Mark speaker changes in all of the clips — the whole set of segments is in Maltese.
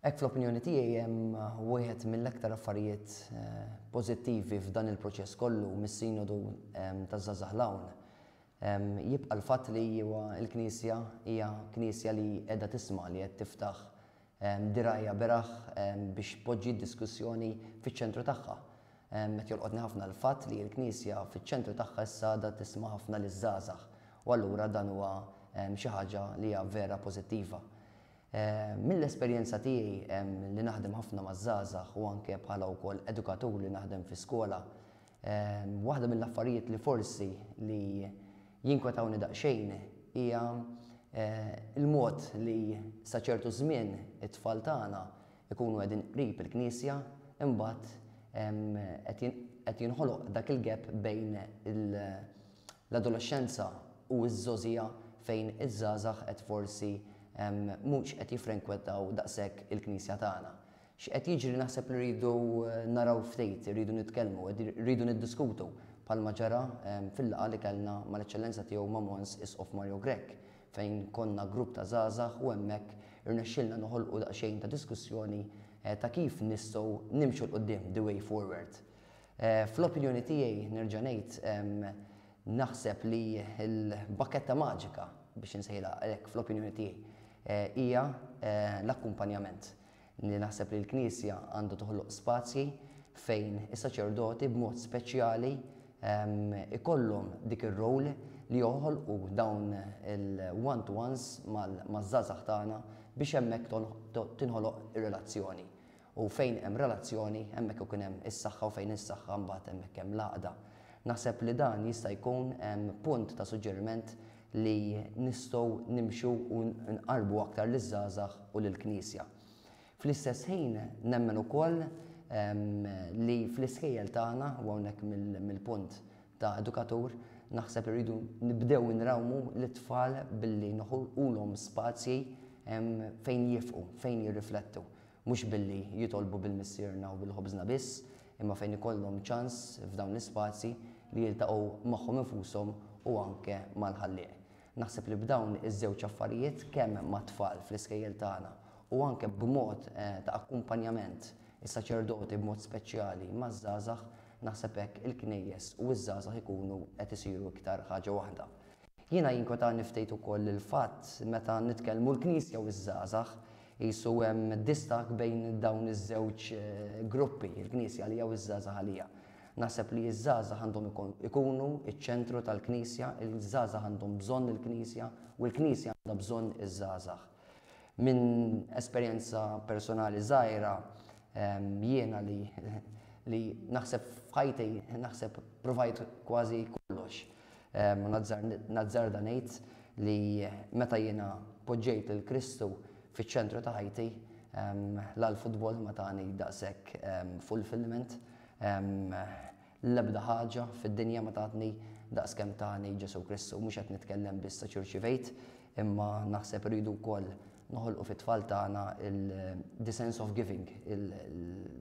Speaker 1: Hekk fl-opinjoni tiegħi hemm wieħed mill-aktar affarijiet pożittivi f'dan il-proċess kollu mis-Sinodu taż-Żgħażagħ 'l hawn jibqa' l-fatt li huwa l-Knisja hija Knisja li qiegħda tisma' li qed tiftaħ dirgħajha beraħ biex tpoġġi d-diskussjoni fiċ-ċentru tagħha. Qed jolqotni ħafna l-fatt li l-Knisja fiċ-ċentru tagħha issa għadha tisma' ħafna liż-żgħażagħ u allura dan huwa xi ħaġa li hija vera pożittiva. Mill-esperjenza tiegħi li naħdem ħafna maż-żgħażagħ u anke bħala wkoll edukatur li naħdem fi skola, waħda mill-affarijiet li forsi li jinkwetawni daqsxejn hija l-mod li sa ċertu żmien it-tfal tagħna jkunu qegħdin qrib il-Knisja imbagħad qed jinħoloq dak il-gap bejn il- L-adolexxenza u ż-żgħożija fejn iż-żgħażagħ qed forsi mhux qed jiffrenkwettaw daqshekk il-Knisja tagħna. X'qed jiġri naħseb li rridu naraw ftit, irridu nitkellmu, rridu niddiskutu bħalma ġara fil-laqgħa li kellna mal-Eċċellenza Tiegħu ma' Mons. Isqof Mario Grech fejn konna grupp ta' żgħażagħ u hemmhekk irnexxielna noħolqu daqsxejn ta' diskussjoni ta' kif nistgħu nimxu 'l quddiem, the way forward. Fl-opinjoni tiegħi, nerġa' ngħid, naħseb li l-bakketta maġika, biex insejħilha hekk fl-opinjoni tiegħi, hija l-akkumpanjament. Li naħseb li l-Knisja għandha toħloq spazji fejn is-saċerdoti b'mod speċjali jkollhom dik ir-role li joħolqu dawn il-one to ones maż-żgħażagħ tagħna biex hemmhekk tinħoloq ir-relazzjoni. U fejn hemm relazzjoni, hemmhekk ikun hemm is-saħħa u fejn is-saħħa mbagħad hemmhekk hemm l-għaqda. Naħseb li dan jista' jkun punt ta' suġġeriment li nistgħu nimxu u nqarrbu aktar liż-żgħażagħ u lill-Knisja. Fl-istess ħin nemmen ukoll li fl-iskejjel tagħna, u hawnhekk mill-punt ta' edukatur, naħseb irridu nibdew inrawmu lit-tfal billi noħolqulhom spazji fejn jifqu, fejn jirriflettu. Mhux billi jitolbu bil-missierna u bil-ħobżna biss, imma fejn ikollhom ċans f'dawn l-ispazji li jiltaqgħu magħhom infushom u anke mal-Ħallieq. Naħseb li b'dawn iż-żewġ affarijiet kemm mat-tfal fl-iskejjel tagħna u anke b'mod ta' akkumpanjament, is-saċerdoti b'mod speċjali maż-żgħażagħ, naħseb hekk il-knejjes u ż-żgħażagħ ikunu qed isiru iktar ħaġa waħda. Jiena jinkwetani ftit ukoll il-fatt meta nitkellmu l-Knisja u ż-żgħażagħ, qisu hemm distakk bejn dawn iż-żewġ gruppi, il-Knisja għalija u ż-żgħażagħ għalija. Naħseb li ż-żgħażagħ għandhom ikunu ċ-ċentru tal-Knisja, iż-żgħażagħ għandhom bżonn il-Knisja u l-Knisja għandha bżonn iż-żgħażagħ. Minn esperjenza personali żgħira, jiena li li naħseb f'ħajti naħseb provajt kważi kollox. U nazzarda ngħid li meta jiena poġġejt lil Kristu fiċ-ċentru ta' ħajti, la l-futbol ma tani daqshekk fulfillment, l-ebda ħaġa fid-dinja ma tatni daqskemm tani Ġesù Kristu. Mhux qed nitkellem biss għax irċivejt, imma naħseb irridu wkoll noħolqu fit-tfal tagħna il-the sense of giving.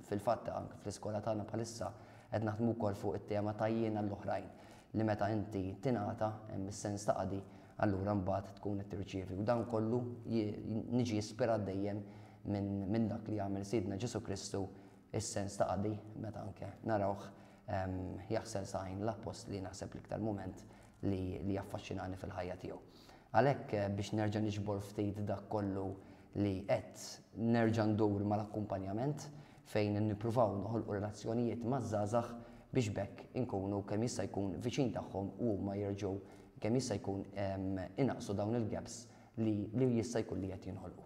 Speaker 1: Fil-fatt anke fl-iskola tagħna bħalissa qed naħdmu wkoll fuq it-tema ta' jien għall-oħrajn li meta inti tingħata hemm is-sens ta' qadi allura mbagħad tkun qed tirċievi. U dan kollu niġi ispirat dejjem minn dak li għamel Sidna Ġesu Kristu is-sens ta' qadi meta anke narawh ehm, jaħsel saqajn l-appostli naħseb l-iktar mument li jaffaxxinani fil-ħajja tiegħu. Għalhekk biex nerġa' niġbor ftit dak kollu li għedt nerġa' ndur mal-akkumpanjament fejn nippruvaw noħolqu relazzjonijiet maż-żgħażagħ biex b'hekk inkunu kemm jista' jkun viċin tagħhom u huma jerġgħu kemm jista' jkun inaqqsu dawn il-gaps li jista' jkun li qed jinħolqu.